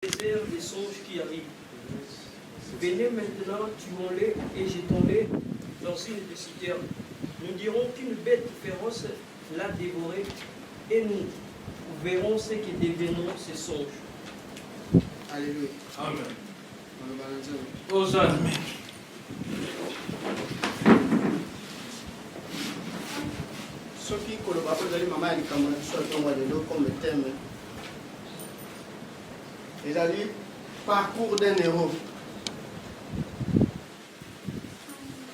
Désert des songes qui arrive. Venez maintenant, tuons-les et jetons-les dans une des citernes. Nous dirons qu'une bête féroce l'a dévoré et nous verrons ce que deviendront ces songes. Alléluia. Amen. Hosanna. soki koloba mpo ezali mama ya likambo na biso ya ntongo ya lelo comme thème ezali parcours d'un héros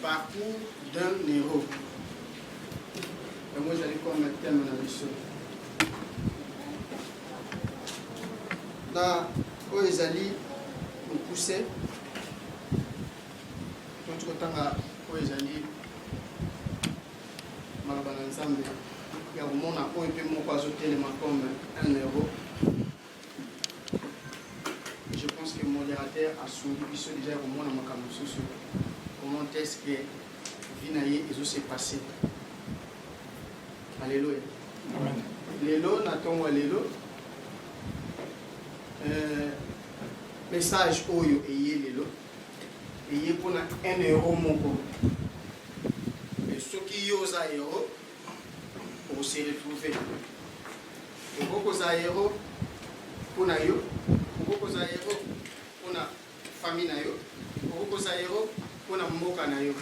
parcours d'un héros yango ezali koma teme na biso na oyo ezali mokuse totikotanga oyo ezali Maloba na Nzambe ya komona oyo mpe moko azotelema comme un euro je pense que modérateur asungi biso deja ya komona makambo mosusu comment est ce que vie na ye ezose passe alleluya lelo na ntongo ya lelo euh, message oyo eye lelo eye mpo na 1 euro moko e soki yo oza euro ose retrouve okoki kozala euro mpo na yo okoki kozala euro mpo na famille na yo okoki kozala euro mpo na mboka na yo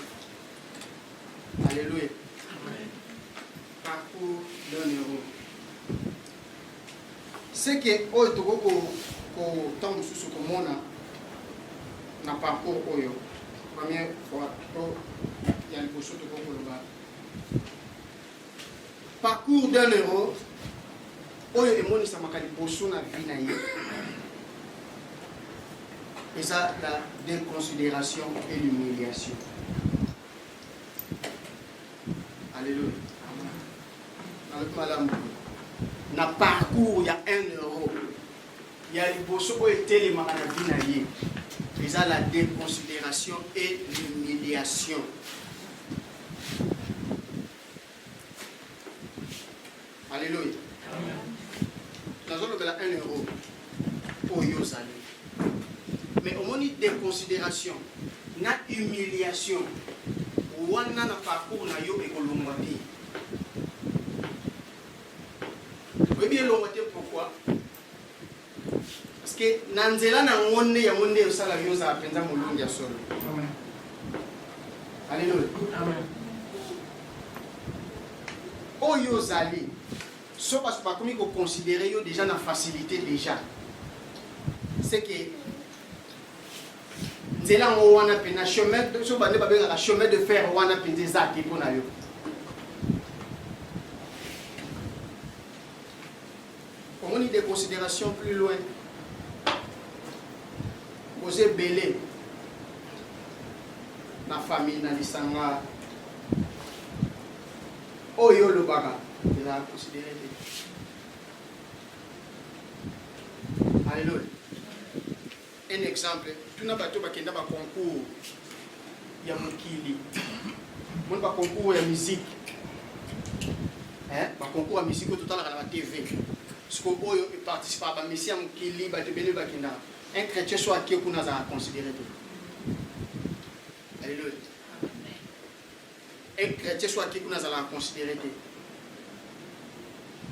alleluya Parcours d'un heros. Ce que oyo tokoki ko ko ntango mosusu komona na parcours oyo première fois to ya liboso tokoki koloba parcours d'un heros oyo emonisamaka liboso na vie na ye eza la déconsidération et l'humiliation Alléluia. Nalobi malamu na parcours ya 1 euro ya liboso oyo etelemaka na vie na ye eza la déconsidération et l'humiliation Alléluia. nazolobela 1 euro oyo ozali mais omoni déconsidération na humiliation wana na parcours na yo ekolongwa te oyebi elongwa te pourquoi Paske na nzela na yango nde yango nde osala yo ozala mpenza molongi ya solo. Aleluya. Oyo ozali so bato bakomi koconsidere yo deja na facilité deja seke nzela yango wana mpe na chemin so bande babengaka chemin de fer wana mpenza eza te mpo na yo Omoni de consideration plus loin. Boza ebele na famille na lisanga oyo olobaka eza considere te. Alléluia. Un exemple, tuna bato oyo bakenda ba concours ya mokili, moni ba concours ya musique hein, ba concours ya musique oyo totalaka na ba TV siko oyo eparticipa ba mesi ya mokili, bato ebele bakenda. Un chrétien so ake kuna azalaka considere te. Alléluia. Un chretien soit qui kuna azalaka considéré te.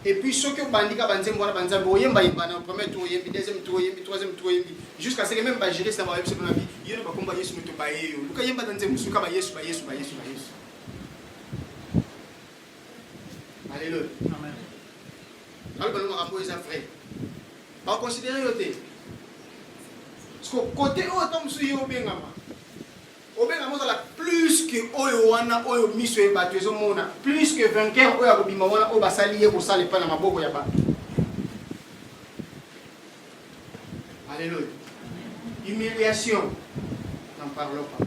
Et puis soki obandi ka banzembo wana banzambe oyemba yemba na premier tour oyembi deuxième tour oyembi troisième tour oyembi jusqu'à ce que même ba juriste na ba yebisa na bi yeno ba komba Yesu moto ba yeyo luka yemba na nzembo suka ba Yesu ba Yesu ba Yesu ba Yesu Alléluia. Amen. Alors que nous avons les vrais. Ba considérer yote. Parce que côté oyo ntango mosusu ye obengama Obengama ozala plus que oyo wana oyo miso ya bato ezomona, plus que vainqueur oyo akobima wana oyo basali ye kosala epai na maboko ya bato. Alléluia. Humiliation, n'en parlons pas.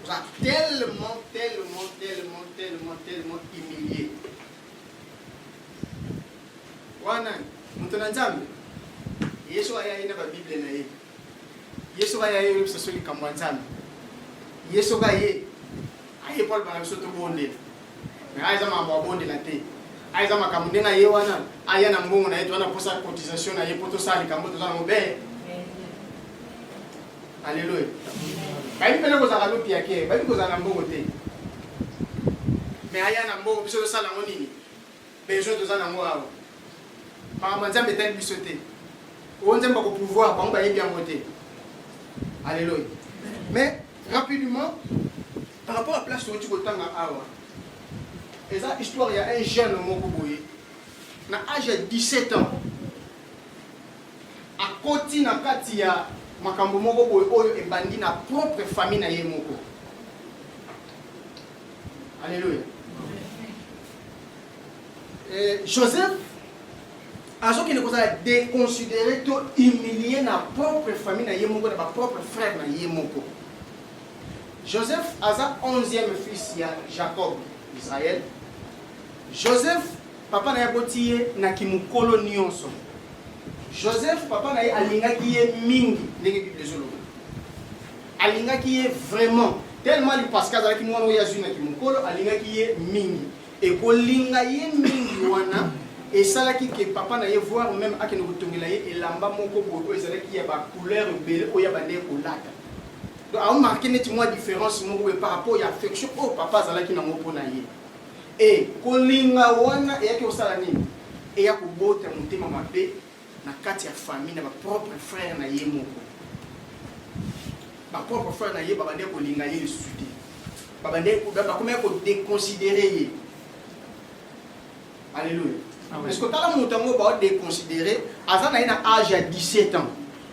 Oza tellement, tellement, tellement, tellement, tellement humilié. Wana, moto na Nzambe, Yesu ayaki na ba Bible na ye. Yesu kaya ye yebisa so likambo ya Nzambe. Yesu kaya ye aye Paul bana biso tobondela. Mais aza makambo abondela te. Aza makambo ndenge aye wana aya na mbongo na ye to wana posa cotisation na ye po tosala likambo toza na mobele. Alléluia. Bayi pele kozala lopi ya kere, bayi kozala na mbongo te. Mais aya na mbongo biso tosala ngo nini? besoin toza nango awa makambo ya nzambe etali biso te oyo nzambe ako pouvoir bango bayebi yango te alleluia mais rapidement par rapport à place outi kotanga awa eza histoire ya un jeune moko boye na age ya 17 ans akoti na kati ya makambo moko boye oyo ebandi na propre famille na ye moko Alléluia. Et Joseph azokende kozala déconsidéré to humilié na propre famille na ye moko na ba propre frère na ye moko. Joseph aza 11e fils ya Jacob Israël. Joseph papa na ye aboti ye na kimokolo nyonso. Joseph papa na ye alingaki ye mingi ndenge Biblia ezoloba. alingaki ye vraiment tellement lipaske azalaki mwana oyo azwi na kimokolo alingaki ye mingi ekolinga ye mingi wana esalaki ke papa na ye voir meme akende kotongela ye elamba moko boye oyo ezalaki ya bacouleur ebele oyo abanda ye kolata donc aomarke neti mwa différence moko boye par rapport ya affection oyo papa azalaki nango mpo na ye e kolinga wana eyaki kosala nini eya kobota motema mabe na kati ya famille na ba propre frère na ye moko ba propre frère na ye babandaki kolinga ye lisusu te babandaki bakomaki kodeconsidere ye alleluya ah parce que tala moto yango baodeconsidere aza na ye na age ya 17 ans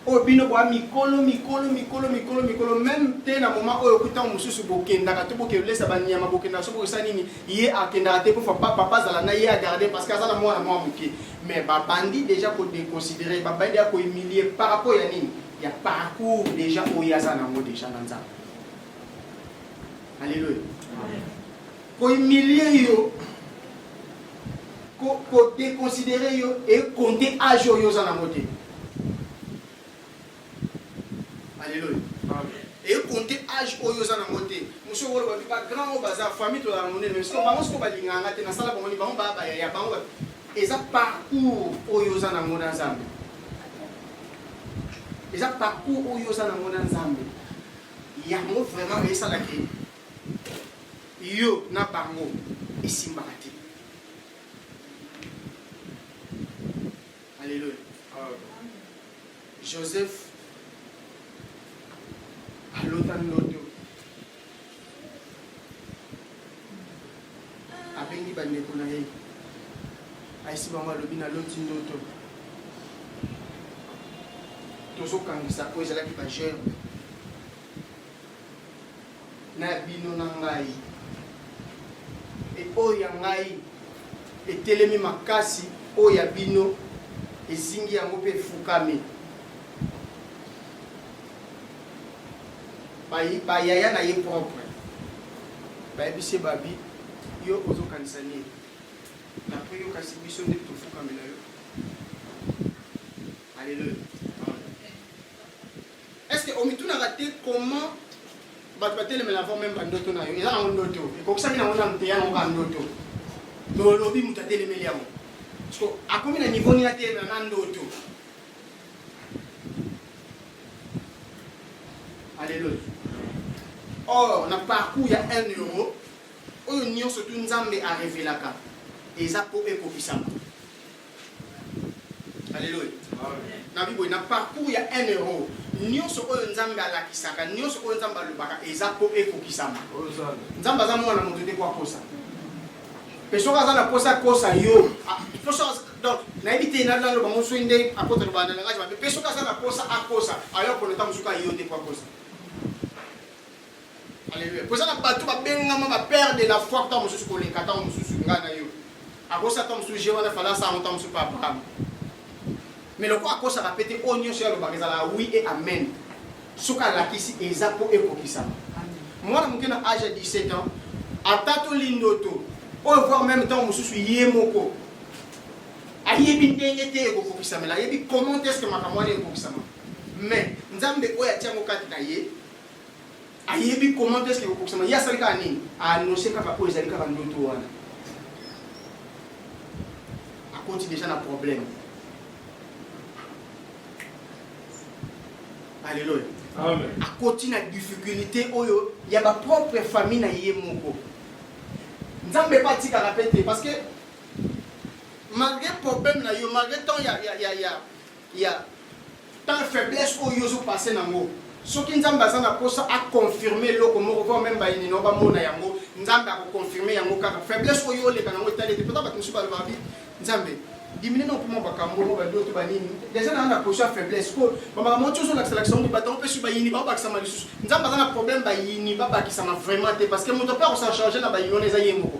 oyo bino boa mikolo mikolo mikolo mikolo mikolo meme te na moment oyo kuta mosusu bokendaka to bokelesa banyama bokendaka so bokesa nini ye akendaka te kofa papa azala na ye agarde parce que aza na mwana mwa moke mais babandi déjà kodeconsidere babandi ya kohumilie par rapport ya nini ya parcours déjà oyo aza nango déjà na nzambe alleluia Ko humilier yo, ko, ko deconsiderer yo et compter âge oyo oza nango te. Alléluia. Et compter âge oyo oza nango te. Monsieur oyo babi ba grand oyo baza famille to la monene, mais siko bango siko balinganga te nasala bango ni bango ba ba ya bango. Eza parcours oyo oza nango na Nzambe. eza parcours oyo oza nango na nzambe yango vraiment esalaki yo na bango esimbaka te. Alléluia. Joseph alota ndoto abengi bandeko na ye ayesi bango alobi naloti ndoto tozokangisa oyo ezalaki bajeune na ya bino na ngai e oyo ya ngai etelemi makasi oyo ya bino ezingi yango mpe efukami bayaya na ye propre bayebisi ye babi yo ozokanisa nini napre yo kasi biso nde tofukamela yo aleluya Est-ce que omitunaka te comment bato batelemela avant meme bandoto na yo eza nango ndoto ekokisami nango nano te ya nango kaka ndoto me olobi moto atelemeli yango parceke akomi na niveau nini atelemela na ndoto aleluya or na parcours ya 1 euro oyo nyonso tu nzambe arevelaka eza mpo ekokisama Alléluia. Na Bible na parcours ya un euro nyonso oyo Nzambe alakisaka nyonso oyo Nzambe alobaka eza mpo ekokisama. Nzambe aza mwana moto te kwa kosa. Mpe soki aza na posa kosa yo ah, donc nayebi te naloba ngo soki nde akota loba na langage mabe mpe soki aza na posa akosa ayo akoneta mosuku ayo te kwa kosa Alléluia. Poza na bato babengama ba père de la foi ntango mosusu koleka ntango mosusu ngai na yo. Akosa ntango mosusu je wana fala asango ntango mosusu pa Abraham. Mais lokola akosaka pe te oyo nyonso ye alobaka ezalaka oui et amen. Soki alakisi eza mpo ekokisama. Mwana moke na age ya 17 ans atatoli ndoto oyo voir meme ntango mosusu ye moko ayebi ndenge te ekokokisamela ayebi comment est ce que makambo wana ekokisama mais nzambe oyo atia yango kati na ye ayebi comment est-ce que kokokisama ye asali kaka nini aannonce kaka oyo ezali kaka ndoto wana akoti deja na problème alleluya akoti na difficulté oyo ya bapropre famille na ye moko nzambe mpe atikaka mpe te parce que malgré problème na yo malgré temps ya, ya, ya, ya ya tant faiblesse oyo ozo passer nango soki nzambe aza na posa a confirmer eloko moko voire même bayini na yo bamona yango nzambe ako confirmer yango kaka faiblesse oyo oleka nango etali ete pota bato mosusu balobaka bi nzambe dimine na opema bakambo mo badoto banini deja naa na posa faiblesse po bamakambo ti ozolakisalakisa ngo bato mpe su bayini babakisama lisusu nzambe aza na problème bayini babakisama vraiment te parce que moto mpe akosala charge na bayini wana eza ye moko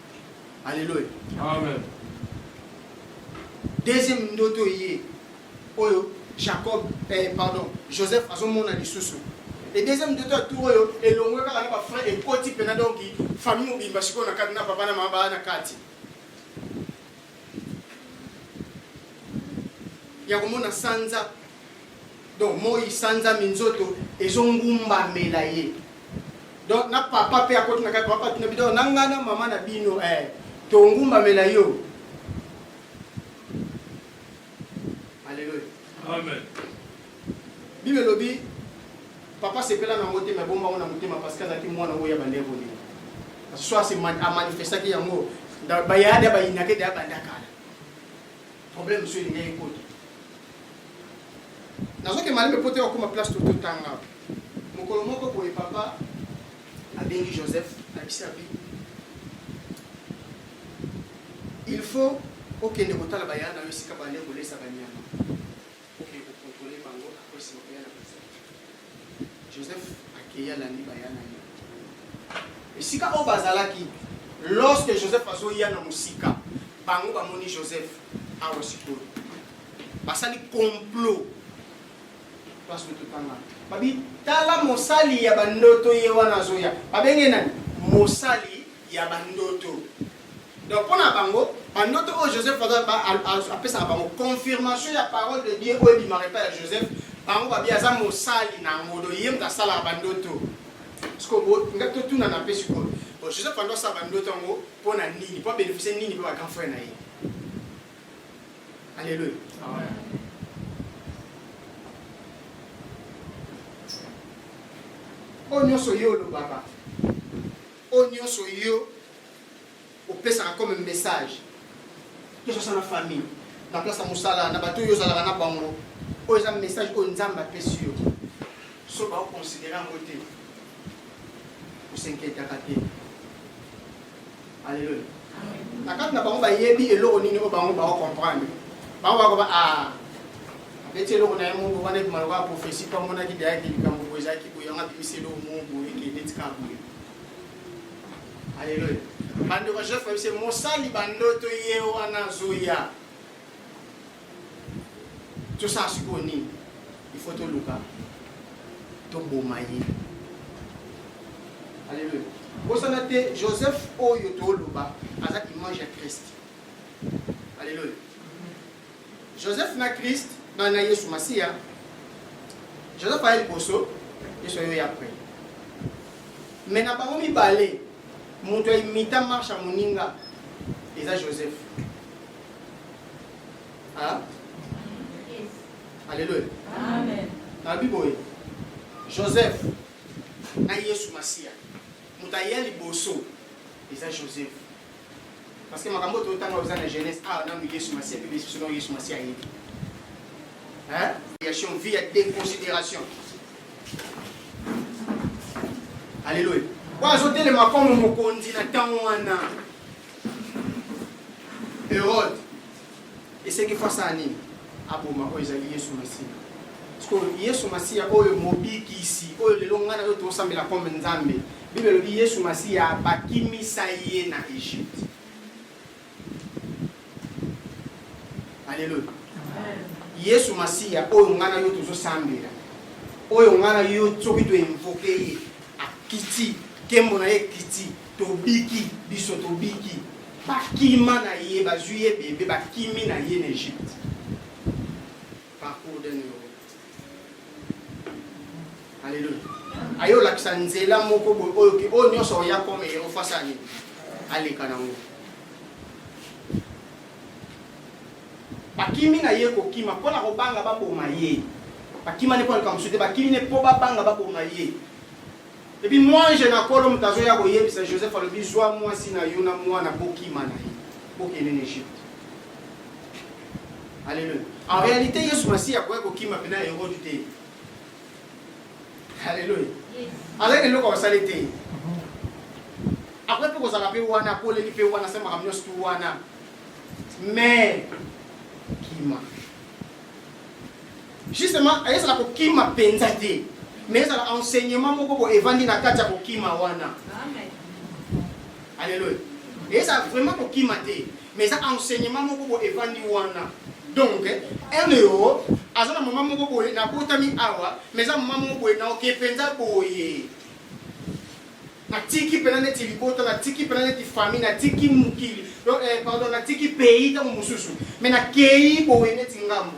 Alléluia. Amen. Deuxième ndoto ye oyo Jacob eh, pardon Joseph azomona lisusu et deuxième ndoto ya tour oyo elongwe kaka na ba frère ekoti mpena donc famille mobimba sikoyo na kati na papa na mama baa na kati ya komona sanza donc moi sanza minzoto ezongumbamela ye donc na papa mpe akoti na kati papa tuna bidon na ngai na mama na bino eh, tongumbamela yo aleluya amen bible elobi papa sepela nango te mabomba yango na motema parce que azalaki mwana oyo ya bandeko nini soit amanifestaki yango bayade ya bayinaka ete abanda kala Problème soki elingi ekota. Nazoke malembe mpo te wakoma place to totanga. Mokolo moko boye papa abengi Joseph abisi abi. Il faut okende kotala bayana yo esika bale kolesa banyama. Kokende ko controler bango après sima koya na preservatif. Joseph akeyi alandi baya na ye esika oyo bazalaki. Lorsque Joseph azoya na mosika, bango bamoni Joseph awa sikoyo basali complot place de totanga babi tala mosali ya bandoto ye wana azoya babenge nani mosali ya bandoto donc mpo na bango bandoto oyo joseph apesaka bango confirmation ya parole de dieu oyo ebimaka epai ya joseph bango babi aza mosali na yango do ye moto asalaka bandoto sikoyo nga totunana mpe sikoyo joseph ando asala bandoto yango mpo na nini mpo abénéficie nini mpe bagrand frère na ye alleluya oyo nyonso ye olobaka Oyo nionso yo opesaka comme message tosasa na famille na place ya mosala na bato oyo ozalaka na bango oyo eza message oyo nzambe apesi yo so baoconsidere yango te osenketaka te aleluya Na kati na bango bayebi eloko nini oyo bango bao comprendre. Bango bakoba ah abeti eloko na ye moko wana ebima lokola prophetie mpo amonaki deyaki likambo boye ezalaki boye yango abimisi eloko moko boye eke neti kaka boye. Aleluya. Bandeko Joseph ayebisi mosali bandoto ye wana azoya. tosala sikoyo nini ifo toluka toboma ye aleluya bosana te joseph oyo toloba aza image ya christ aleluya joseph na christ na, na yesu masiya joseph aye liboso yesu ayo ya après mais na bango mibale moto ya imita marche ya moninga eza joseph Hein? Yes. Alléluia. Amen. Nabi boye. Joseph na Yesu Masiya. Moto aya liboso eza Joseph. Parce que makambo to tanga oza na Genèse ah na Yesu Masiya pe biso na Yesu Masiya yebi. Hein? Création vie ya déconsidération. Alléluia. Oyo azotelema comme mokonzi na ntango wana Herode esengeli fo asala nini? Aboma oyo ezali Yesu Masiya. Sikoyo Yesu Masiya oyo mobikisi oyo lelo ngai nayo tosambela comme Nzambe, Biblia elobi Yesu Masiya bakimisa ye na Egypte. Aleluya. Yesu Masiya oyo ngai nayo tozosambela, oyo ngai nayo soki toinvoke ye Akiti, kembo na ye ekiti, tobiki, biso tobiki. Bakima na ye, bazwi ye bebe, bakimi na ye na Egypte. Parcours d'un euro. Alléluia. Ayo olakisa nzela moko boye oyo ke oyo nyonso oya comme euro face à nini? Aleka nango. Bakimi na ye kokima mpo na kobanga baboma ye. Bakima ne mpo na likambo mosusu te, bakimi ne mpo babanga baboma ye. Epi mwanje na kolo moto azoya koyebisa Joseph alobi zwa mwasi na yo na mwana bokima na ye bokende na Egypte. Alléluia. En réalité Yesu Masiya akoya kokima pena Herode te. Haleluya. Azali na eloko ya kosala te. Akoki mpe kozala mpe wana, akoleli mpe wana, asali makambo nyonso tu wana. Mais kima. Justement, ezala kokima mpenza te. Mais ezala enseignement moko boye evandi na kati ya kokima wana. Alléluia. Ezala vraiment kokima te. Mais eza enseignement moko bo evandi wana. Donc, LEO aza na maman moko boye na botami awa, mais eza maman moko boye na oke penza boye. Na tiki pena neti libota, na tiki pena neti famille, na tiki mukili. Donc, eh, pardon, na tiki pays tango mususu. Mais na kei boye neti ngambo.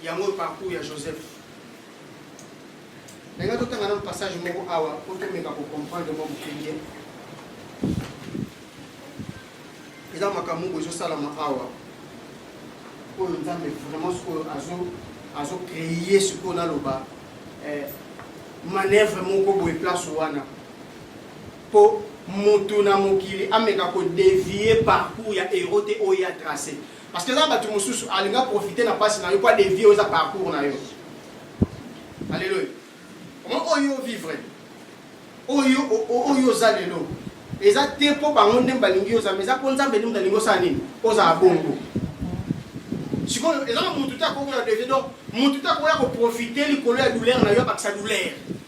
yango parcours ya joseph ndenge totanga nano passage moko awa mpo tomeka kocomprendre mwa moke bien eza makambo moko ezosalama awa oyo nzambe vraiment sikoyo azocreye sikoyo naloba eh, manevre moko boye place wana mpo moto na mokili ameka kodevie parcours ya hero te oyo ya trace Parce que eza bato mosusu alinga profiter na pasi na yo mpo adevie oyo eza parcours na yo. Alléluia. Omoni oyo oh, vivre oyo oh, oh, oyo oza lelo eza te mpo bango nde balingi oza mais eza mpo nzambe nde moto alingi osala nini ozala bongo sikoyo eza na motu te akoki na devie donc motu te akoya koprofite likolo ya douleur na yo abakisa douleur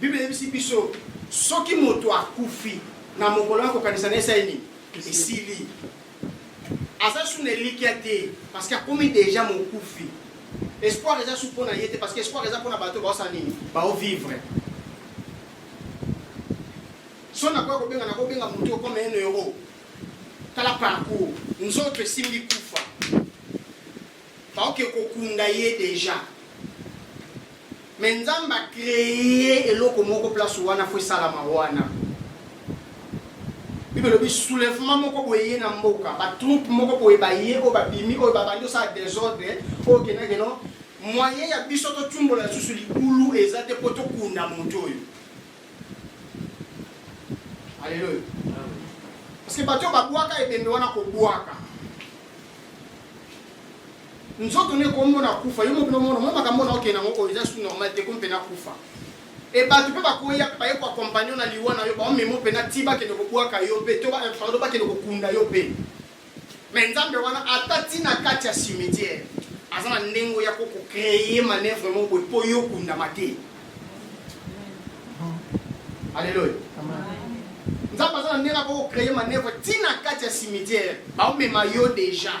Biblia eyebisi biso soki moto akufi na mokolo ya kokanisa na esali nini esili aza su na elikya te parce que akomi deja mokufi espoir eza su mpo na ye te parce que espoir eza mpo na bato baosala nini baovivre so nakoya kobenga nakobenga moto okoma eno euro tala parcours nzoto esimbi kufa Baoke kokunda ye deja. Mais Nzambe a cree eloko moko place wana faut esalama wana. Bible elobi soulèvement moko boye ye na mboka, ba troupes moko boye baye oyo babimi oyo babandi osala desordre oyo kendake no moyen ya biso totumbola lisusu libulu eza te mpo tokunda moto oyo. Alléluia. Parce que bato babwaka ebembe wana kobwaka nzoto nde kombo na kufa yo mobino mono mo makambo na okende yango oyo eza su normal te kompe na kufa e bato mpe bakoya baye koakompagne na liwa na yo baomema mpe na ti bakende kobwaka yo mpe to pardon bakende kokunda yo mpe Mais Nzambe wana ata tina kati ya cimetière aza na ndenge ya ko créer manœuvre moko po yo kundama te. Alléluia. Nzambe aza na ndenge ya ko créer manœuvre tina kati ya cimetière ba mema yo déjà.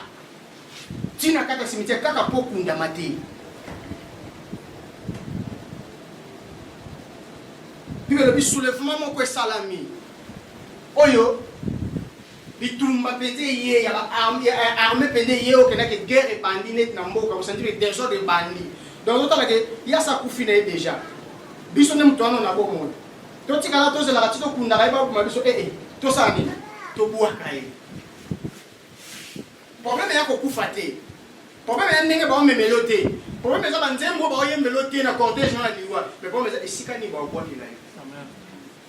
Tina kati ya cimetière kaka po kundama te. Puis le soulèvement moko esalami. Oyo bitumba mpenza eye ya arme mpenza eye okendaki guerre ebandi neti na mboka osantire desordre ebandi donc ozotala ke yasa akufi na ye déjà biso nde moto wana na bomoi totikala tozelaka ti tokundaka ye baboma biso ee eh, eh, tosala nini tobwaka ye probleme ya kokufa te probleme ya ndenge baomemelo te probleme eza banzembo baoyembelo te na cortège na liwa mais probleme eza esika nini baobwakela ye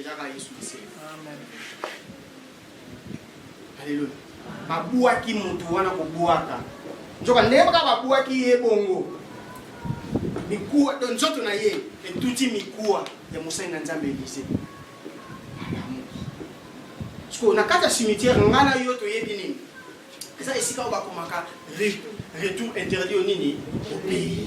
Eza ka Yesu Masiya. Amen. Alléluia. Babuaki mutu wana kobuaka. Nzoka ndenge kaka babuaki ye bongo. Mikuwa to nzoto na ye etuti mikuwa ya mosali na Nzambe Elize. Sikoyo na kati ya cimetière ngai na yo toyebi nini? Eza esika oyo bakomaka retour interdit nini? Obeye.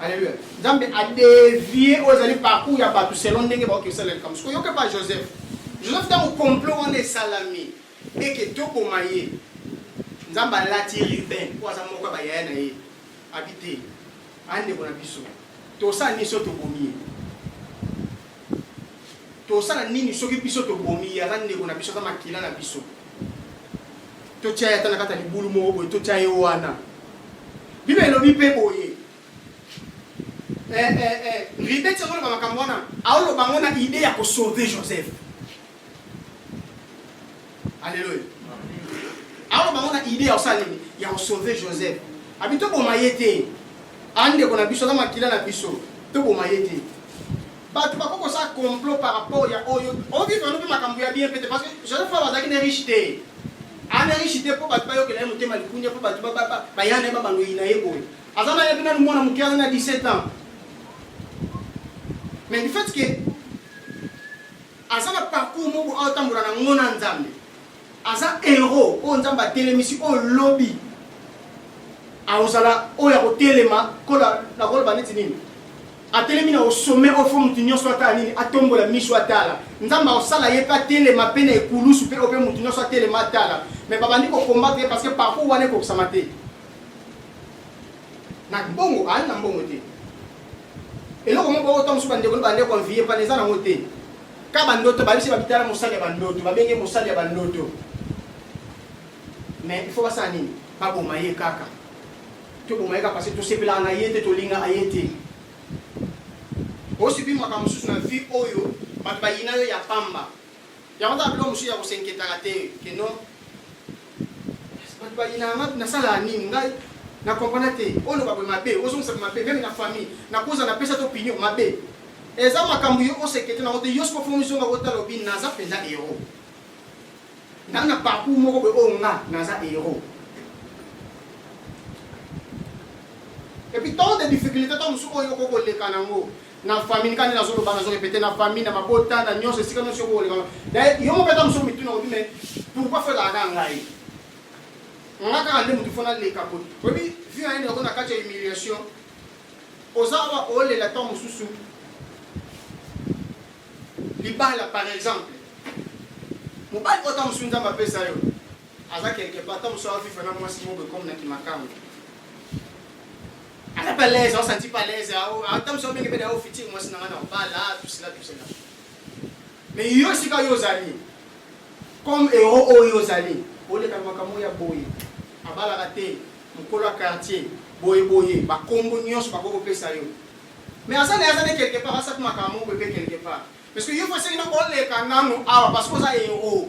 Alléluia. Nzambe a dévier oyo ezali parcours ya bato selon ndenge baoki kosala likambo. Siko yoka pa Joseph. Joseph ntango complot wana esalami eke toboma ye. Nzambe alati Ruben oyo aza moko ya bayaya na ye. Abi te. Andeko na biso. Tosala nini so tobomi ye? tosala nini soki biso tobomi ya na ndeko na biso aza makila na biso totya ye ata na kati ya libulu moko boye totya ye wana bible elobi mpe boye eh, eh, eh. ribeti azoloba makambo wana aoloba yango na ide ya kosauve joseph Alléluia. Alors bango na idée ya kosala nini? Ya kosauve Joseph. Abi toboma ye te. Andeko na biso na makila na biso toboma ye te. Bato bakoki kosala complot par rapport ya oyo ovivre no mpe makambo ya bien pete parce que Joseph Fava azalaki na riche te. Ana riche te mpo bato bayokela ye motema likunya mpo bato baya na ye babaloyi na ye boye. Aza na ye mpe nanu mwana moke aza na 17 ans. Mais du fait que Aza na parcours moko azo tambola na ngo na Nzambe. Aza héros oyo Nzambe atelemisi oyo lobi akozala oyo akotelema kola na koloba neti nini atelemi na osome ofo motu nyonso atala nini atombola miso atala nzambe akosala ye mpe atelema mpe na ekulusu mpe ope motu nyonso atelema atala me babandi kokombate ye parce que parcours wana ekokisama te na mbongo aali na mbongo te eloko moko oyo ntango mosusu bandeko na bandeko anviye mpana eza nango te ka bandoto babisi babitala mosali ya bandoto babenge mosali ya bandoto mais il faut basala nini baboma ye kaka toboma ye kaka parce tosepelaka na ye te tolingaka ye te osibi makambo mosusu na vie oyo bato bayina yo ya pamba Yango kaka biloko mosusu ya ko s'inquietaka te que non bato bayinaka nga nasalaka nini ngai na comprendre te oloba boye mabe ozongisa boye mabe meme na famille nakoza napesa te opinion mabe eza makambo yo osekete nango te yo soko fomi zonga otala obi naza mpenza hero ngai na parcours moko boye oyo nga naza hero epuis tant de difficulté to mosusu oyo okoki koleka nango na famille nika nde nazoloba nazo repete na famille na mabota na nyonso esika nyonso yoko oleka daye yo moko ata mosuku mituna obi me pourkoi fo ezalaka kaka ngai nga kaka nde motu fo naleka koti oyebi vi na yende yako na kati ya humiliation oza awa olela ntango mosusu libala par exemple mobali oyo ntango mosusu nzambe apesa yo aza quelque part ntango mosusu aviva na mwasi moko ekomi na kimakango Aza pas à l'aise, on sentit pas à l'aise. Ata mso mingi pe dawo fiti mwasi na ngana bala tusila tusila. Mais yo sika yo ozali. Comme héros oyo ozali, oleka makambo ya boye. Abalaka te mokolo ya quartier boye boye bakombo nyonso bakoki kopesa yo mais aza na aza nde quelque part asaki makambo moko ebe quelque part parce que yo fo esengi noko oleka nano awa parce que oza héros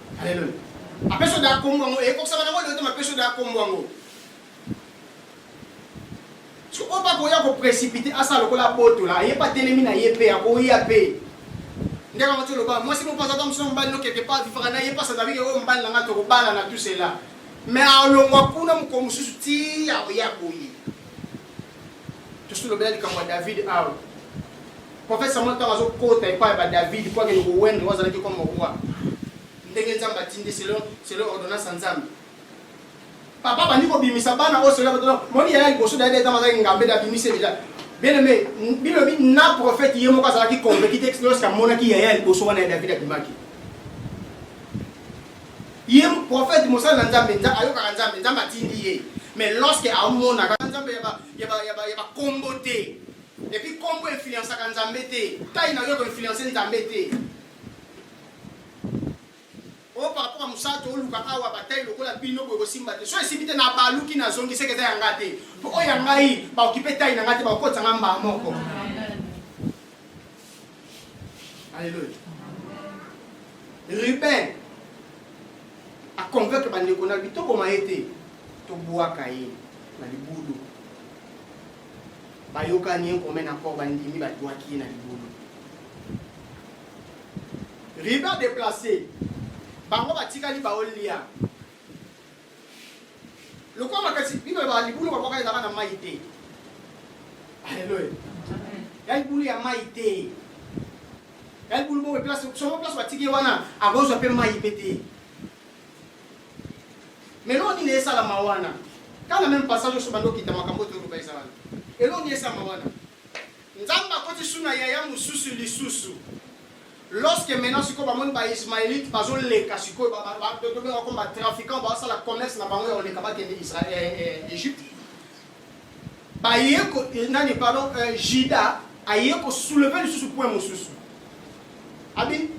Alléluia. Apesho da kombo yango ekokisama nango lelo te mapesho da kombo yango. Soki oyo bakoya ko précipiter asala lokola abotola ayeba telemi na ye mpe akoya mpe ndenge yango toloba mwasi moko azaka mosusu mobali no quelque part vivaka na ye mpasa davike oyo mobali na ngai tokobalana tout cela mais alongwa kuna mokolo mosusu ti akoya boye tosilobela likambo ya david awa profete samuel ntango azokota epai ya badavid mpo akende kowende oyo azalaki koma roi ndenge nzambe atindi selon selon ordonnance ya nzambe papa bandi kobimisa bana oyo selon batona moni yaya liboso david etama azalaki ngambe da bimise deja bien aimé bilobi na profete ye moko azalaki convaincu te lorsque amonaki yaya liboso wana ya david abimaki Ye prophète mosali na Nzambe, Nzambe ayokaka Nzambe, Nzambe atindi ye. Mais lorsque amonaka Nzambe ya ba ya ba ya ba ya ba kombo te. Et puis kombo influençaka Nzambe te. Tai na yo ko influencer Nzambe te. O par rapport à Musato oluka awa batai lokola bino boye kosimba te. So esimbi te na baluki na zongi seke eza ya ngai te. Po oyo ya ngai ba occuper tai na ngai te ba okotisa ngai mbaa moko. Alléluia. Ruben a convaincre bandeko na bito boma ye te tobwaka ye na libulu bayokani ye commun accord bandimi babwaki ye na libulu riba deplace bango batikali baolia lokola makasi bino ba libulu babwaka ezalaka na mai te aleluya ya libulu ya mai te ya libulu boye place somo place batiki ye wana akozwa mpe mai mpe te meloo nini esalama wana kana meme passage oso bando okita makambo oyo toloba ezalana eloo nini esalama wana Nzambe akoti su na yaya mosusu lisusu. Lorsque maintenant sikoyo bamoni ba Ismaelite bazoleka sikoyo tobengaka comme ba trafiquant basala commerce na bango ya koleka bakende Israël eh, eh, Egypte. Baye ko eh, nani pardon Juda aye ko soulever lisusu point mosusu. Abi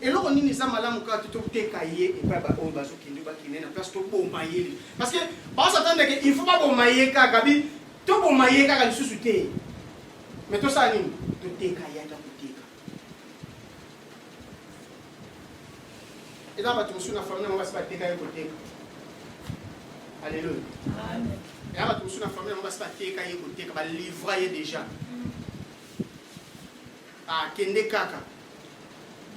eloko nini eza malamu kaka te toteka ye epai baoyo bazokende bakende na place toboma ye parce que baosatandeke il faut baboma ye kaka bi Toboma ye kaka lisusu te. Mais tosala nini? Toteka ye ata koteka. Eza bato mosusu na famille yango basi bateka ye koteka. Alléluia. Amen. Eza bato mosusu na famille yango basi bateka ye koteka, balivra ye déjà. Akende ah, kaka.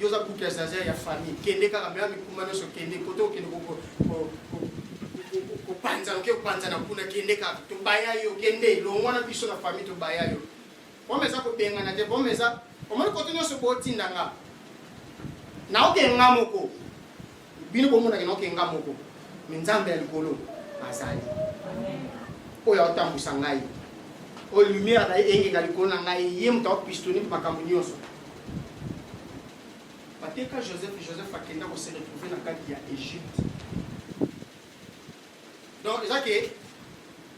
yo oza kutu ya zaza ya famille kende kaka mea mikumba nyonso kende kote okende kopanza oke kopanza na kuna kende kaka tobaya yo kende longwa na biso na famille tobaya yo boma eza kobengana te boma eza omoni kote nyonso botinda nga naoke nga moko bino bomonaka na oke nga moko me nzambe ya likolo azali oyo aotambwisa ngai oyo lumière na ye engenga likolo na ngai ye moto aopistoni mpe makambo nyonso bateka joseph joseph akenda kose retrouve na kati ya egypte donc eza ke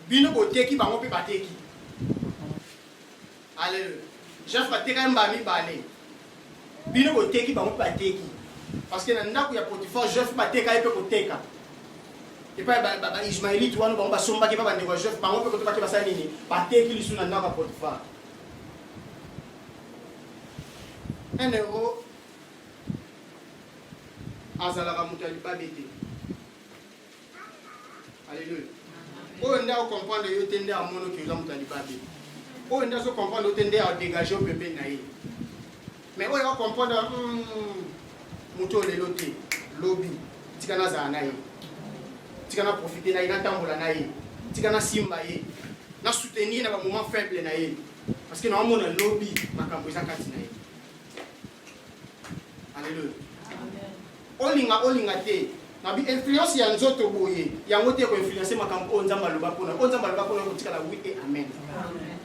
bino boteki bango mpe bateki Alléluia. Jeff bateka ye mbala mibale. Bino boteki bango mpe bateki. Parce que na ndako ya Potiphar Jeff bateka ye mpe koteka. Epai ba ba, ba Ismaelite wana bango basombaki epai bandeko ya Jeff bango mpe koto bake basali nini? Bateki lisu na ndako ya Potiphar. Un euro azalaka moto ya libabe te. Alléluia. Oyo nda o comprendre yo te nda amono ki oza moto ya libabe. Oyo nda so comprendre yo te nda a dégage oyo pembeni na ye. Mais oyo a comprendre hmm, moto oyo lelo te lobi tika nazala na ye tika na profite na ye natambola na ye tika nasimba ye na soutenir na bamoment faible na ye parce que naomona lobi makambo eza kati na ye Alléluia. Amen. Olinga olinga te. Na bi influence ya nzoto boye, yango te ko influencer makambo oyo Nzambe aloba pona. Oyo Nzambe aloba pona kotikala oui et amen. Amen.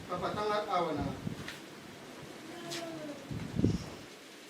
Papa tanga awa na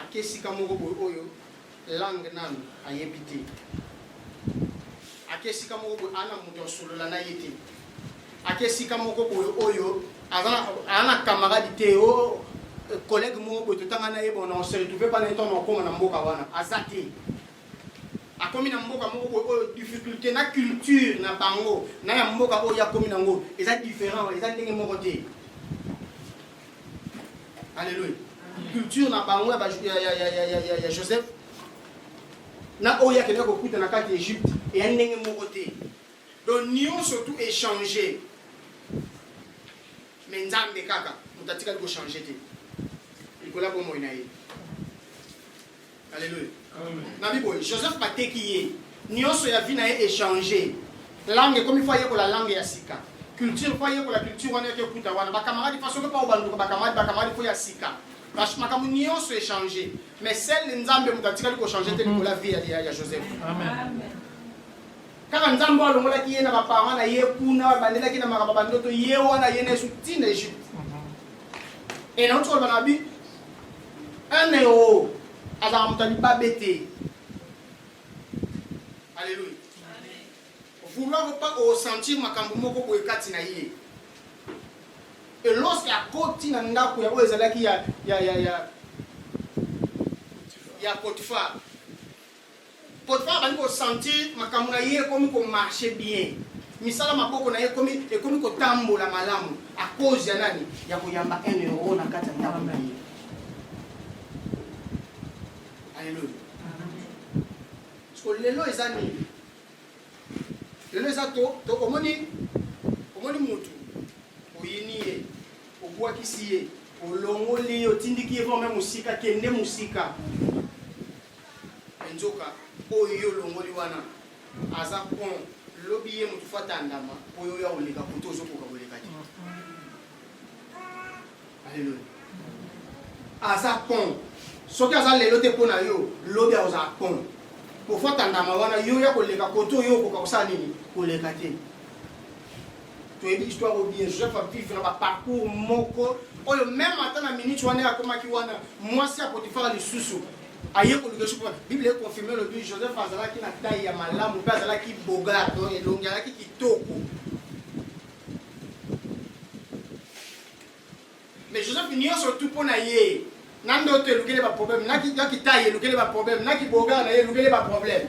ake esika moko boye oyo langue nanu ayebi te ake esika moko boye ana moto asolola na ye te ake esika moko boye oyo aza na camarade te o oh, collègue moko boye totanga na ye bona on se retrouve pana eto na okoma na mboka wana aza te akomi na mboka moko boye oyo difficulté na culture na bango na ya mboka oyo akomi nango eza différent eza ndenge moko te Alléluia. Culture na bango ya, ya, ya, ya, ya, ya, ya Joseph na oyo akendaki kokuta na kati ya Egypte eya ndenge moko te. Donc nyonso tu échanger. Mais Nzambe kaka moto atikali ko changer te. Nikola bomoi na ye. Alléluia. Nabi boye Joseph bateki ye nionso ya vie na ye échanger langue ekomi fo ayekola langue ya sika culture fo ayekola culture wana yaki okuta wana bakamaradi fa soki mpa obanduka bakamaradi bakamaradi fo ya sika makambo nionso échanger mais sele nzambe moto atikali kochanger te likola vie ya, ya joseph kaka nzambe oyo alongolaki ye na baparent na ye kuna babandelaki na makambo bandoto ye wana ye na yesu ntina egypte e nauti koloba na bi Un euro azalaka moto ya libabe te. Alléluia. Vouloir ou pas osentir makambo moko boye kati na ye. Et lorsque akoti na ndako ya oyo ezalaki ya ya ya ya ya Potiphar. Potifar abandi ko sentir makambo na ye ekomi ko marcher bien, misala maboko na ye ekomi ekomi kotambola malamu à cause ya nani? Ya koyamba un euro na kati ya ndako na ye. Alléluia. Siko lelo eza nini? Lelo eza to, to omoni omoni mutu oyini ye obwakisi ye olongoli ye otindiki ye vraimen mosika kende mosika Mais nzoka oyo yo olongoli wana aza pont lobi ye moto fo atandama mpo yo oya koleka koto ozokoka koleka te aleloya aza pont soki aza lelo te mpo na yo lobi akozala pont pofo atandama wana yo oya koleka koto yo okoka kosala nini koleka te toyebi histoire oyo bien joseph avivre baparcours moko oyo meme ata na minute wana ye akomaki wana mwasi ya potifara lisusu aye koluka esu mpo biblia ekonfirme elobi joseph azalaki na tai ya malamu mpe azalaki bogar don elongi azalaki kitoko mais joseph nyonso tu mpo na ye na ndoto elukeli baproblème na kitai elukeli baproblème na kibogar na ye elukeli baproblème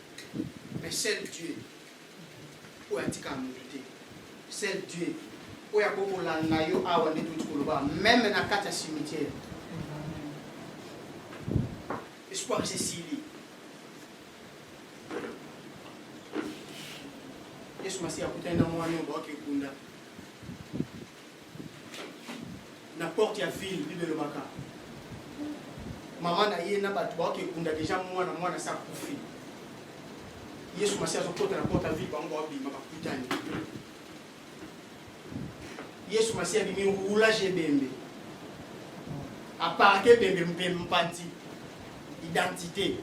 mais seul Dieu oyo atikaka moto te seul Dieu oyo akoki kolanda yo awa nde touti koloba meme na kati ya cimetière espoir esesili yesu masiya akutani na mwana oyo baoki ekunda na porte ya ville bible elobaka mama na ye na bato baoki ekunda deja mwana mwana sa kufi yesu masi azokota na porte ya ville bango baobima bakutani yesu masi abimi roulage ebembe aparke ebembe mpe mpanzi identité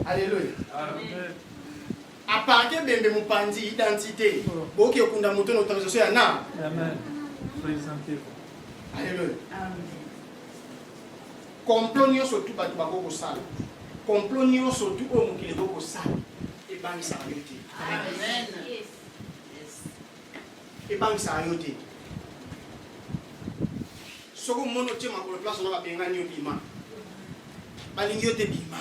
alleluya A part ebembe mopanzi identite boki okunda moto na autorisation ya na. Amen. Présentez-vous. Alléluia. Amen. complot nyonso tu bato bakoki kosala complot nyonso tu oyo mokili ekoki kosala ebangisaka yo te ebangisaka yo te soki omoni otie makolo place ona babengani yo bima balingi yo te bima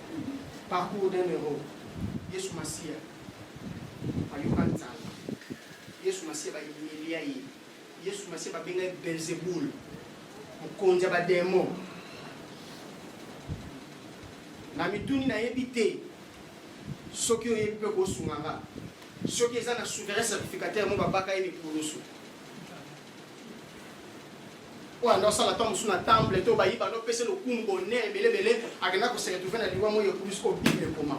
Parcours d'un héros. Yesu Masiya ayoka nzala. Yesu Masiya bayemelia ye. Yesu Masiya babenga ye Belzebul, mokonzi ya bademo. Na mituni nayebi te soki oyebi mpe kosunga nga soki eza na souverain certificateur mo babaka ye mikulusu oyo anda osala ntango mosusu na temple to bayiba nopesa lokumu bonere ebelebele akenda koseretrouve na liwa moi ekubi soko bible ekoma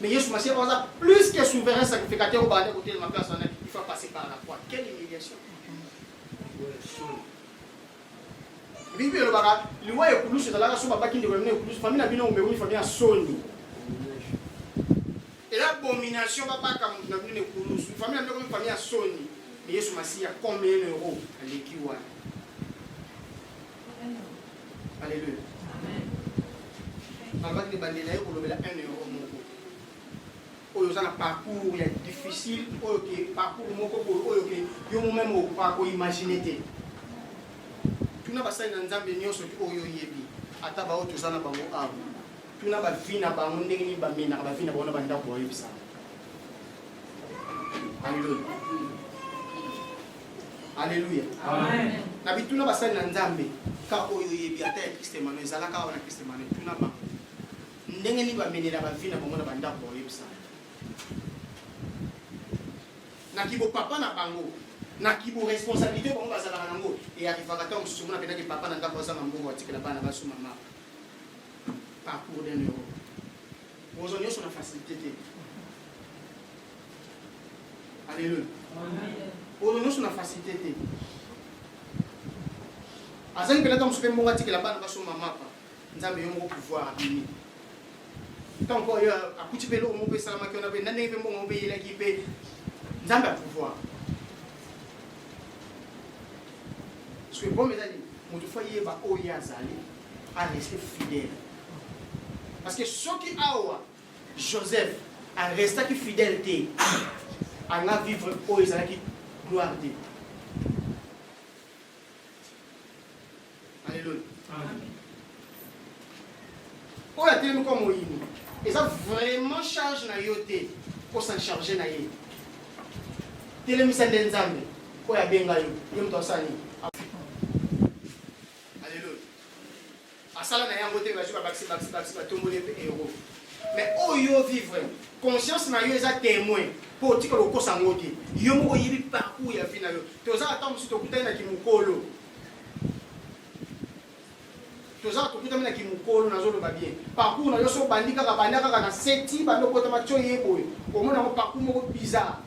mais yesu masiya aza plus que souverain sacrificateur oyo baanda kotelema place wana il faut passer par la croix quelle humiliation bibi elobaka liwa ekulusu ezalaka so babaki ndeko ya bino ekulusu fami na bino omemoni fami ya soni Eza abomination ba baka mutu na bino na ekulusu. Famille na bino ekomi famille ya soni. Mais Yesu Masiya comme un euro aleki wana. Alléluia. Amen. Alobaki ebandeli na ye kolobela 1 euro moko oyo oza na parcours ya difficile oyo ke parcours moko boye oyo ke yo momeme okoka koimagine te tuna basali na nzambe nyonso ti oyo oyebi ata baoyo toza na bango awa tuna ba vie na bango ndenge nini ba menaka ba vie na bango na ba ndako bayebisa Alléluia. Alléluia. Amen. Na bituna basali na Nzambe ka oyo yebi ata ya Christ Emmanuel ezalaka wana Christ Emmanuel tuna ba ndenge nini ba menela ba vie na bango na ba ndako bayebisa na kibo papa na bango na kibo responsabilité bango bazalaka nango e arrivaka ntango mosusu mona mpenaki papa na ndako azanga mbongo atikela bana basu mama parcours d'un euro kozwa nyonso na facilité te alleluia kozwa nyonso na facilité te azali mpena ntango mosusu mpe mbongo atikela bana basomba mapa nzambe yo moko pouvoir abimi ntango mpo yo akuti mpe eloko moko mpe esalamaki wana mpe na ndenge mpe mbongo moko mpe eyelaki mpe nzambe ya pouvoir parce que bome ezali moto fo ayeba oyo ye azali a reste fidèle parce que soki awa joseph arestaki fidèle te anga vivre oyo ezalaki gloire te alleluia oyo atelemi kwa moyini eza vraiment charge na yo te kosa charge na ye telemisa nde nzambe oyo abenga yo ye moto asala nini Alléluia. Asala na yango te bazu ba bakisi bakisi bakisi ba tombole pe euro. Mais oyo vivre conscience na yo eza témoin po otika kokosa ngo te. Yo moko oyebi parcours ya vie na yo. Toza ata musu tokutani na kimukolo. Toza tokutami na kimukolo na zolo ba bien. Parcours na yo so bandi kaka banda kaka na seti bando kota matcho yeboye. Omona ngo parcours moko bizarre.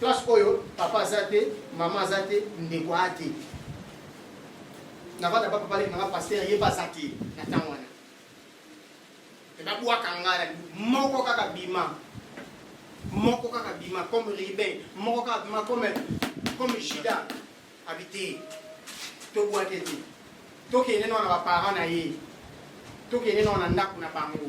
Classe oyo papa aza te, mama aza te, ndeko a te. Navanda papa pale nanga pasteur ye baza te na tango wana. Eba bwaka ngala moko kaka bima. Moko kaka bima comme Ruben, moko kaka bima comme comme Judas habité. To bwaka te. To kende na ba parents na ye. To kende na ndako na bango.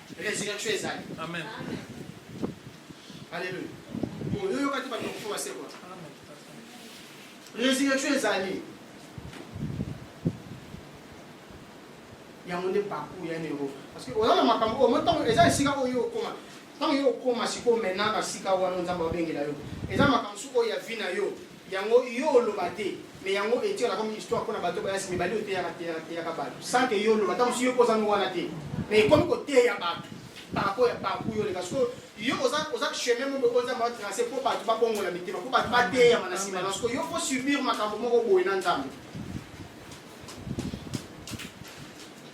Resurrection ezali. Amen. Alléluia. Bon, yo yokati bato bakufa basekwa. Resurrection ezali. yango nde parcours ya yango parce que oza na makambo oyo ntango eza esika oyo okoma ntango yo okoma sikoyo maintenant na sika wana nzambe abengela yo eza makambo suku oyo ya vi na yo Yango yo oloba te mais yango etikala comme histoire pona bato baya sima ebali oteyaka teyaka teyaka bato sans que yo oloba ntango mosusu yo mpe ozangi wana te mais ekomi koteya bato par rapport ya parcours yo oleka sikoyo yo oza oza chemin moko oyo nzambe atrace mpo bato babongola mitema mpo bato bateyama na nsima na sikoyo yo mpo subir makambo moko boye na nzambe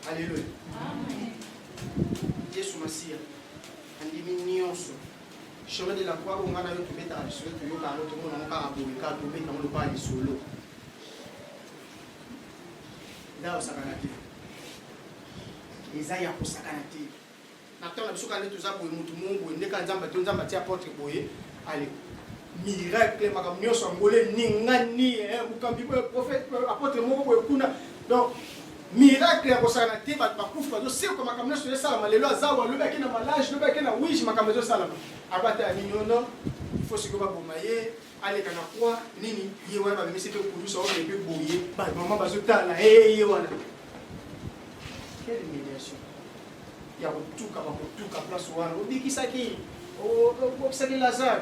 aleluya yesu masiya andimi nyonso Chemin de la croix oyo nga na yo tobetaka lisolo toyoka yango tomona yango kaka boye kaka tobeta yango lokola lisolo ngai osakana te eza ya kosakana te na ntango na biso kaka nde toza boye motu moko boye nde kaka nzambe to nzambe atia porte boye ale miracle makambo nyonso angole ningani eh, mokambi boye prophète apôtre moko boye kuna donc Miracle ya kosakana te, bato bakufi bazosekwa, makambo nyonso ezosalama lelo. Azawa lobi ake na malage, lobi ake na wige, makambo ezosalama. Abata ya nini ono? Il faut sikoyo baboma ye, aleka na kwa nini? Ye wana bamemisi mpe kulusa oyo mpe boye, bamama bazotala ee ye wana. Quelle humiliation ya kotuka bakotuka place wana obikisaki obikisaki lazare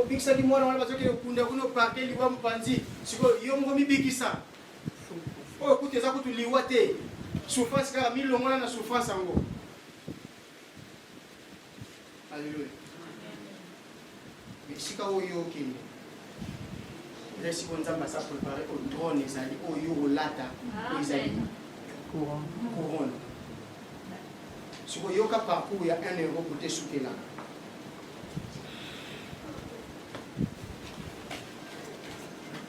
obikisaki mwana wana bazokende kunda kuna opake liwa mopanzi sikoyo yo moko mibikisa oyo kutu eza kutu liwa te souffrance kaka milongola na souffrance yango alleluya esika oyo okende eza esika oyo nzambe asa prépare oyo drone ezali oyo olata oyo ezali couronne sikoyoka parcours ya 1 euro kote esukelaka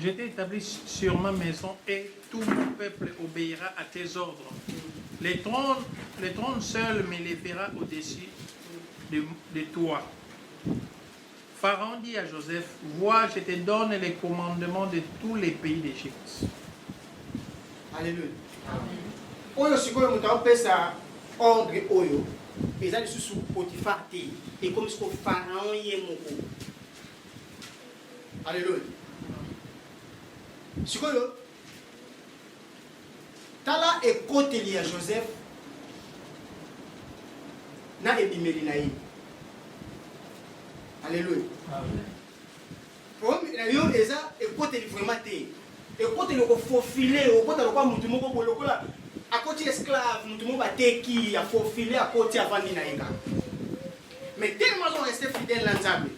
Je t'ai établi sur ma maison et tout mon peuple obéira à tes ordres. Les trônes, les trônes seuls m'élèvera au-dessus de, de toi. Pharaon dit à Joseph, vois, je te donne les commandements de tous les pays d'Égypte. Alléluia. oyo sikoyo moto aopesa ordre oyo eza lisusu potifar te ekomi sikoyo pharaon ye moko Aleluya. Sikoyo tala ekoteli ya Joseph na ebimeli na ye. Aleluya. Problème na yo eza ekoteli vraiment te. Ekoteli okofofile, okota lokola motu moko boye lokola akoti esclave, motu moko bateki, afofile, akoti avandi na ye kaka. Mais tellement azo rester fidèle na Nzambe.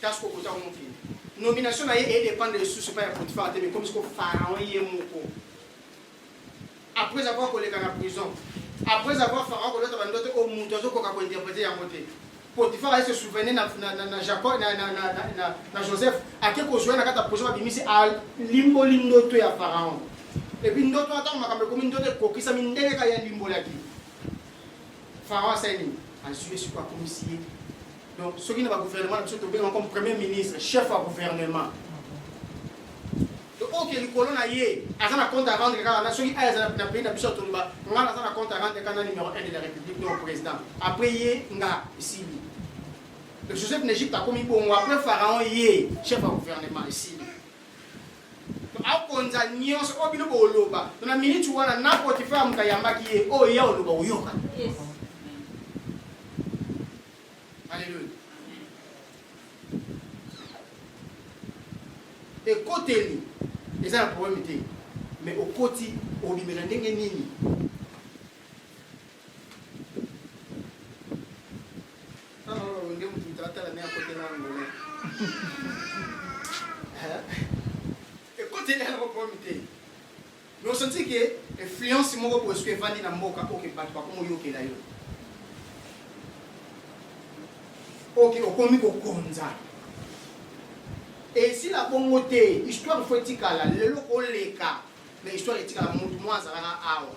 Kasi ko kota mokili. Nomination na ye e dépendre lisusu pa ya Potiphar te mais comme siko Pharaon ye moko. Après avoir koleka na prison, après avoir Pharaon kolota bandoto o mutu azo koka ko interpréter yango te. Potiphar aye se souvenir na, na, na, na Jacob na, na, na, na, na, na Joseph ake kozwa na kati ya prison babimisi alimboli ndoto ya Pharaon. Et puis ndoto wana ntango makambo ekomi ndoto ekokisami ndenge kaka ye alimbolaki. Pharaon asali nini? Azwi ye sikoyo akomisi ye. Donc soki na ba gouvernement na biso tobenga comme premier ministre, chef ya gouvernement. Donc oyo ke likolo na ye aza na compte à rendre kaka na soki aya aza na pays na biso toloba nga naza na compte à rendre kaka na numéro 1 de la République donc président. Après ye nga esili. Donc Joseph n'Egypte akomi bongo après Pharaon ye chef ya gouvernement esili. akonza nyonso oyo bino boloba na miniti wana na potifare moto ayambaki ye oyo ya oloba oyoka aleluya ekoteli eza na probleme te mais okoti obimela ndenge nini osanti ke influence moko boye soki evandi na mboka oke bato bakomoyokela yo oke okomi kokonza esila bongo te histoire fo etikala lelo koleka mais histoire etikala motu mwa azalaka awa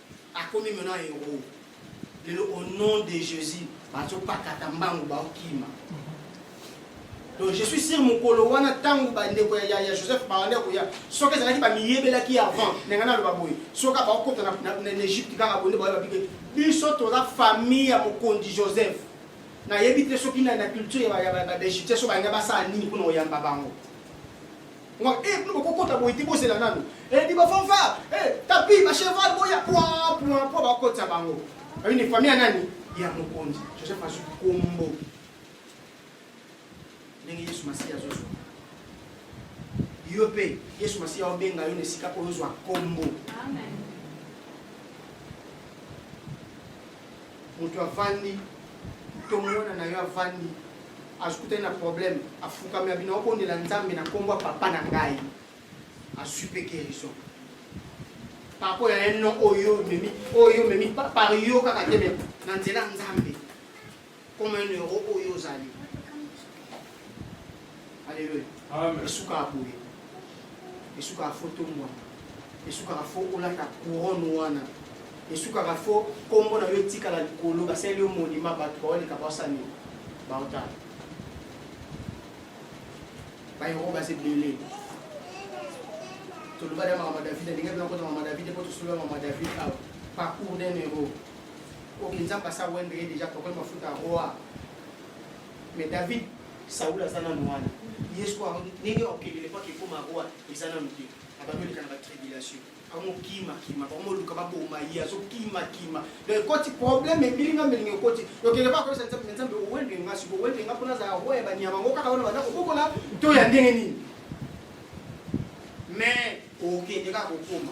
akomi maintenant héros lelo au nom de Jésus bazopakata mbangu baokima donc je suis sûr mokolo wana ntango bandeko ya, ya, ya joseph bawana koya soki ezalaki bamiyebelaki avant ndenge naloba boye soki bakokota na egypte kaka bonde baye babike biso toza famille ya mokonzi joseph nayebi te soki na culture ya baegyptien so balinga basala nini mpona koyamba bango Moi, eh, nous, on compte à moi, il c'est la nano. Eh, dis-moi, fanfare, eh, tapis, ma cheval, boya, point, point, point, bah, compte à bango. Une famille à nani, il y a mon compte. Je sais pas, je combo. Nengi Yesu Masiya zozo. Yo pe, Yesu Masiya obenga yo nesika oyo zwa kombo. Amen. moto avandi to mwana na yo avandi azokutani na problème afukami abina obondela nzambe na nkombo ya papa na ngai azwi mpe guérison par rapport ya un nom oyo omemi oyo omemi par yo kaka te me na nzela nzambe comme un euro oyo ozali aleluya esukaka boye esukaka fo tombwana esukaka fo olata couronne wana esukaka fo nkombo na yo etikala likolo basaleli yo monima bato baoleka basani baotala bayango baza ebele tolobali ya mama david alingai bina kota mama david mpo tosolola mama david awa parcours d'un euro Ok, Nzambe asa wendo ye deja pokoi mafuta roi. Mais David, Saul aza nanu wana. Yesu kwa ndenge okendele kwa kekoma roi eza nanu te. Abandi oleka na ba tribulation. Akomo kima kima, akomo luka baboma ye, azo kima kima. Donc ekoti problème ebili nga melingi ekoti. Okende ba kosa Nzambe, Nzambe owende nga siko owende nga pona za roi ya banyama ngo kaka wana banda kokola to ya ndenge nini? Mais okende kaka kokoma.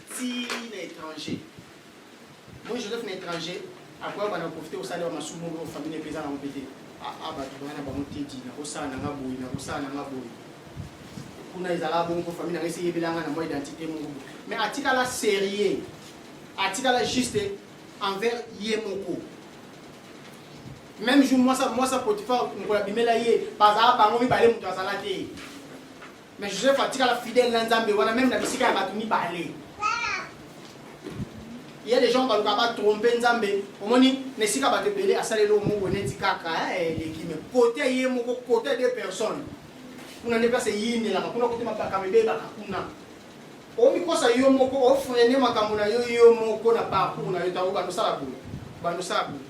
ti na étranger moi joseph na étranger akoya bana profite kosala ba masumu oyo famille mpe eza nango mpe te aa bato bana na bango tedi nakosala na nga boye nakosala na nga boye kuna ezalaka bongo mpo famille na nga esi eyebela nga na mwa identité moko mais atikala sérieux atikala juste envers ye moko même jour mwasa mwasa potifa mokolo abimela ye bazala bango mibale moto azala te Mais Joseph atikala fidèle na Nzambe wana même na bisika ya bato mibale. Il y a des gens baluka ba tromper Nzambe. Omoni na esika bato ebele asaleli oyo moko neti kaka eh, eleki mais kote ye moko kote de personnes. Kuna nde place eyindelaka kuna kote mabakama ebebaka kuna. Omikosa yo moko ofrene makambo na yo yo moko na parcours na yo ntango bandosala boye bandosala boye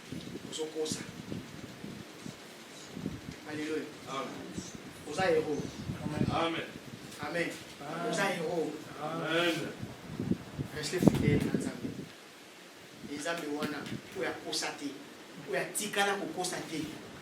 Ozo kosa. Alléluia. Amen. Oza héros. Amen. Amen. Amen. Oza héros. Amen. Restez fidèle na Nzambe. Nzambe wana oyo akosa te, oyo atikala kokosa te.